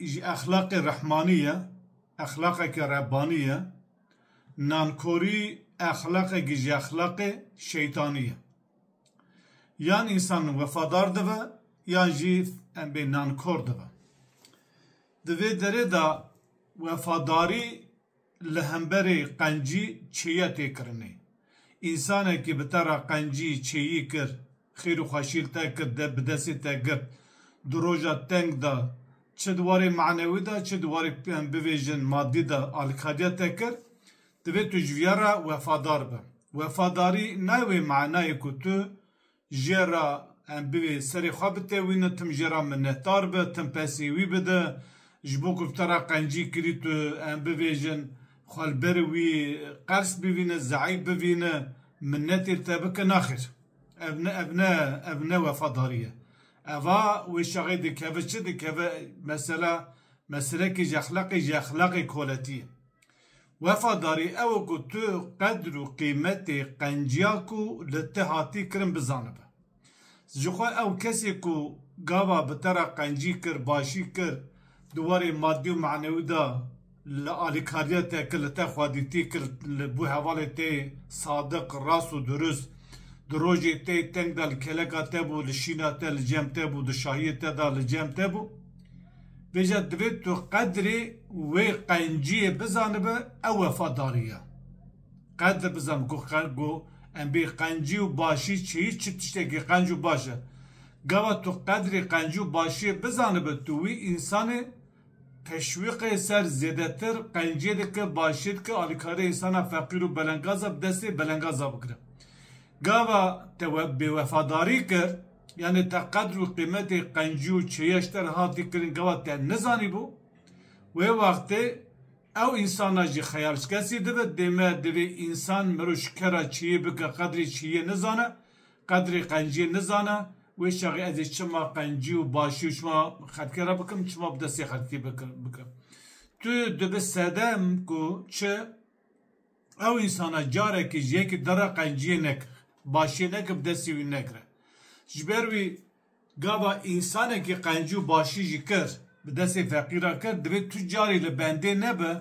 Ji exlaqê rehmanî ye, exlaqeke rebbanî ye. Nankorî exlaqekî ji exlaqê şeytanî ye. Yan însan wefadar dibe yan jî em bê nankor dibe. Di vê derê de wefadarî Li hemberê qencî çêye tê kirinê. Însanekî bi te re qencî çêyî kir, xêr û xweşî li te kir, bi destê te girt, di roja teng de, çi di warê manewî de, çi di warê em bibêjin madî de alîkariya te kir, divê tu ji vîya re wefadar bi. Wefadarî nayê wê manayê ku tu Jê re em bivê serê xwe bitewîne, tim jê re minnetdar be, tim pesê wî bide. Ji bo ku bi te re qencî kirî tu em bibêjin, xwe li ber wî qers bivîne, zeîf bivîne, minnetê li te bike, naxêr. Ev ne ev ne ev ne wefadarî ye. Eva wê şexê dikeve çi dikeve mesela meselekê ji exlaqê ji exlaqê koletî ye. Wefadarî ew e ku tu qedr û qîmetê qenciya ku li te hatî kirin bizanibe. Ji xwe ew kesê ku gava bi te re qencî kir, başî kir di warê madî û manewî de li alîkariya te kir, li te xwedîtî kir, li bû hevalê te yê sadiq, rast û durust, di rojê te yê teng de li keleka te bû, li şîna te li cem te bû, di şahiyê te de li cem te bû. Bêje divê tu qedrê wê qenciyê bizanibe ew wefadarî ye. Qedr bizan ku ku em bê qencî û başî çi yî çi tiştekî qenc û baş e. Gava tu qedrê qencî û başiyê bizanibe tu wî însanê teşwîqê ser zêdetir qenciyê dike başiyê dike alîkarê însana feqîr û belengaza bi destê belengaza bigire. Gava te bêwefadarî kir. Yanê te qedr û qîmetê qencî û çêya ji te re hatî kirin gava te nizanîbû? Wê wextê ew însanan jî xeyalskesî dibe, dê me divê însan mirov ji kera çêyê bike qedrê çêyê nizane, qedrê qenciyê nizane, wê çaxê ez ê çima qencî û başî û çima xelkê re bikim, çima bi destê xelkî bikim. Tu dibi sedem ku çi Ew însana carekî ji yekî dere qenciyê neke, başiyê neke bi destê wî negire. Ji ber wî gava însanekî qencî û başî jî kir, bi destê feqîran kir, divê tu carî li bendê nebe,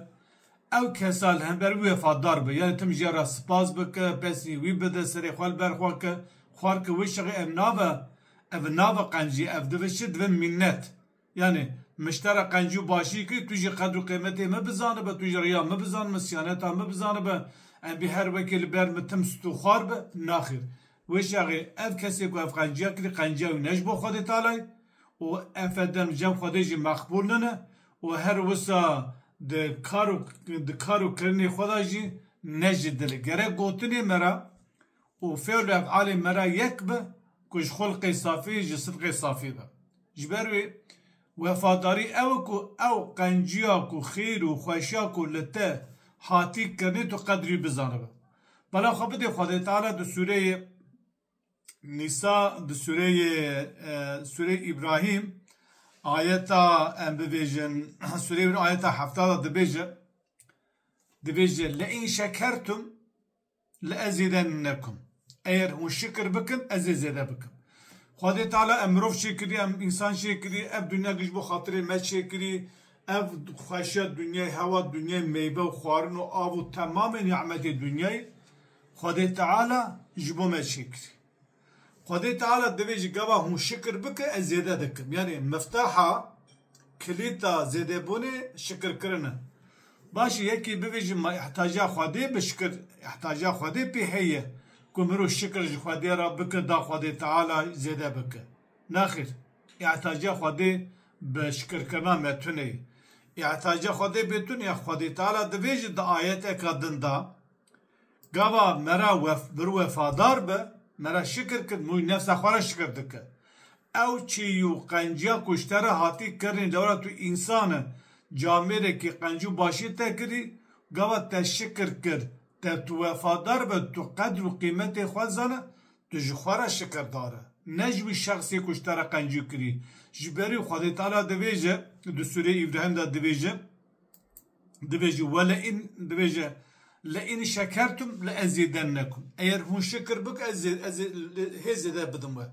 ew kesa li hember wî wefadar be, yanî tim ji ya re spas bike, pesnî wî bide, serê xwe li ber xwe ke, xwarke wê şexê ev nabe, ev nabe qencî, ev dibe çi, dibe mînet. Yanî, miştera qencî û başî kî, tu jî qedr û qîmetê min bizanibe, tu jî riya min bizanibe, siyaneta min bizanibe, em bî her wekê li ber min tim sit û xwar be? Naxir. Wê şexê, ev kesê ku ev qenciya kirî, qenciya wî ne ji bo Xwedê Tealay û efe dem li cem Xwedê jî meqbûl nine û her wisa di kar û di kar û kirinê xwe de jî ne ji dilê. Gerek gotinê me re Û fêr li efalê me re yek be ku ji xulqê safî, ji sidqê safî be. Ji ber wê wefadarî ew e ku ew qenciya ku xêr û xweşiya ku li te hatî kirinê tu qedrî bizanibe. Bala xwe bidê Xwedê Teala di sûreyê Nîsa, di sûreyê sûreyê Îbrahîm ayeta em bibêjin sûreyê wir ayeta hefta de dibêje, dibêje, Leîn şekertum Li ez zêde nekum. Eger hûn şikir bikin, ez ê zêde bikim. Xwedê Teala em mirov çêkirî, em însan çêkirî, ev dinya giş bo xatirê me çêkirî, ev xweşiya dinyayê, hewa dinyayê, meyve û xwarin û av û temamê nî'metê dinyayê Xwedê Teala ji bo me çêkirî. Xwedê Teala divê ji gava hûn şikir bike ez zêde dikim. Yanî mifteha, kilîta zêdebûnê şikirkirin e. Baş e yekê bivê ji ma îhtaja Xwedê bi şikir îhtaja Xwedê pê heye ku mirov şikir ji Xwedê re bike da Xwedê Teala zêde bike. Nexir. Îhtaja Xwedê bi şikirkirina me tune ye. Îhtaja Xwedê bê tune ye. Xwedê Teala divê jî di ayeteke din de, Gava me re bir wefadar bi, me re şikir kir, mûy nefsa xwe re şikir dike. Ew çî û qenciya ku ji te re hatî kirinî lewra tu însan î, camêrekî qenc û başiyê te kirî, gava te şikir kir, te tu wefadar bi, tu qedr û qîmetê xwe dizane, tu ji xwe re şikirdar î, ne ji wî şexsê ku ji te re qencî kirî. Ji berî Xwedê Teala dibêje, di Sûreyê Îbrahîm de dibêje. Dibêje wele in dibêje le in şekertum le ez zêde nekum. Eyer hûn şikir bik ez ez hê zêde bidim we.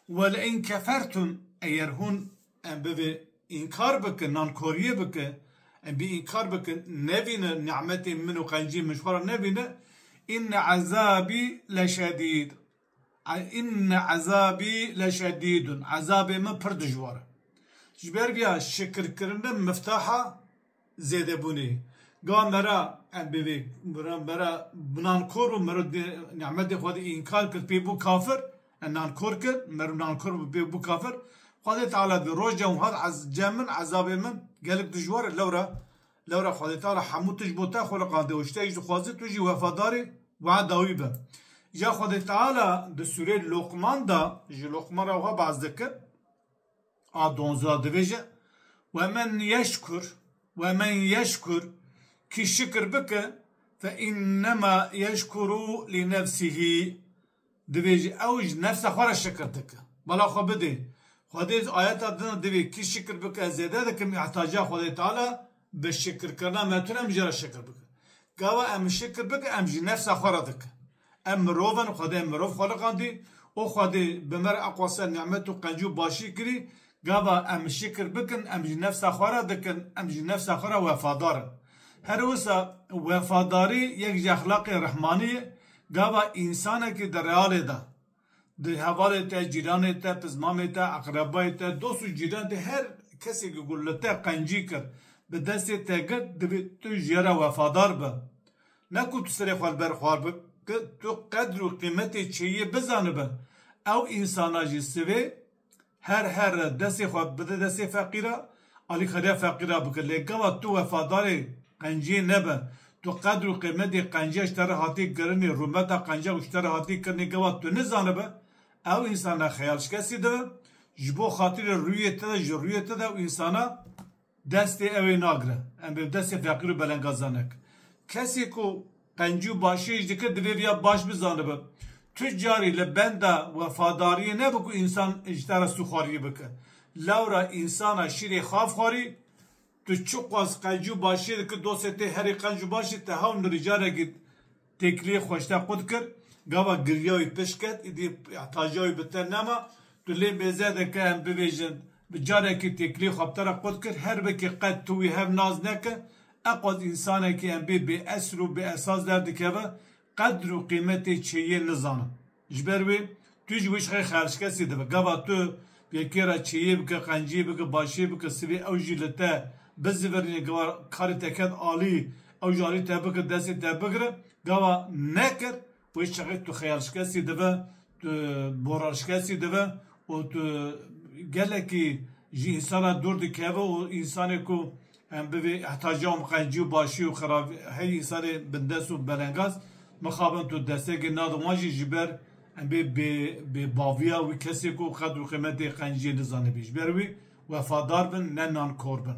Wele in kefertum eyer hûn em bivê înkar bikin nankoriyê bike em bî înkar bike nevîne ni'metê min û qencî min ji xwe re nevîne inne ezabî leşedîd. Înne ezabî leşedîdun, ezabê min pir dijwar e. Ji ber vê ya şikirkirin e miftaha zêdebûnê ye. Ga me re em bi vê me re bi nankor bûn, me re nî'metê Xwedê înkar kir pê bû kafir, em nankor kir, me re nankor bû pê bû kafir. Xwedê Teala dê roja wiha de cem min, ezabê min gelek dijwar e, lewra Lewra Xwedê te re hemû tişt bo te xwe riqandiye û ji te jî dixwaze tu jî wefadarê wehda wî be. Ja Xwedê Teala di sûreyê Luqman de ji Luqman re wiha behs dike, a donze de dibêje, Ve men yeşkur, ve men yeşkur, kî şikir bike, fe înnema yeşkuru lî nefsihî, Divê jî ew ji nefsa xwe re şikir dike. Bala xwe bidê. Xwedê ji ayeta din re divê kî şikir bike ez zêde dikim mîhtaciya Xwedê Teala bi şikirkirina me tune min jê re şikir bike. Gava em şikir bikin em ji nefsa xwe re dikin. Em mirov in, Xwedê mirov xweliqandî û Xwedê bi me re eqwa ser nimet û qencî û başî kirî, Gava em şikir bikin, em ji nefsa xwe re dikin, em ji nefsa xwe re wefadar in. Her wisa wefadarî yek ji exlaqê rehmanî ye, gava însanekî di realê de, di hevalê te, cîranê te, pizmamê te, eqrebayê te, dost û cîranê te, her kesê ku li te qencî kir, bi destê te girt, divê tu ji ya re wefadar bi. Ne ku tu serê xwe li ber xwar bi, tu qedr û qîmetê çêyê bizanibe. Ew însana jî sivê Her here destê xwe bide destê feqîra, alîkariya feqîra bike. Lê gava tu wefadarê qenciyê nebe, tu qedr û qîmetê qenciya ji te re hatiye kirinê, rûmeta qenciya ku ji te re hatiye kirinê gava tu nizanibe, ew însan ne xeyalşikestî dibe, ji bo xatirê rûyê te de ji rûyê te de ew însana, Destê ew ê nagre. Em bi destê feqîr û belengazan nekin. Kesê ku qencî û başiyê jî dike divê viya baş bizanibe. Tu carî li benda wefadariyê nebe ku însan ji te re sûxwariyê bike. Lewra însana şîrê xav xwarî, tu çiqas qencî û başiyê dikî dostê tê herî qenc û baş jî te hewl mirî carekî Têkiliyê xweşte qut kir, gava giriya wî pişt ket, îdî îhtaja wî bi te nema. Tu lê mêze dike em bivêjin. Bi carekî têkiliyê xwe bi te re qut kir, her wekî qet tu wî hev nas neke. Eqwet însanekî em bê bêesl û bêesas derdikeve, qedr û qîmetê çêyê nizane. Ji ber wê tu ji wişxê xerçkesî dibe. Gava tu yekê re çêyê bike, qencî bike, başê bike, sivê ew jî li te bizivirîne, gava karê te ket alî, ew jî alî te bike, destê te bigire. Gava nekir, wê çexê tu xeyalşkesî dibe, tu borarşkesî dibe û tu gelekî ji însan re dûr dikeve û însanê ku Em bi vê ehtajam qencî û başî û xeravî herî serê bindest û belengaz mixabin tu destekê nadin wan jî ji ber em bê bê bê baviya wî kesê ku qed û qîmetê qenciyê nizanibî ji ber wî wefadar bin ne nankor bin.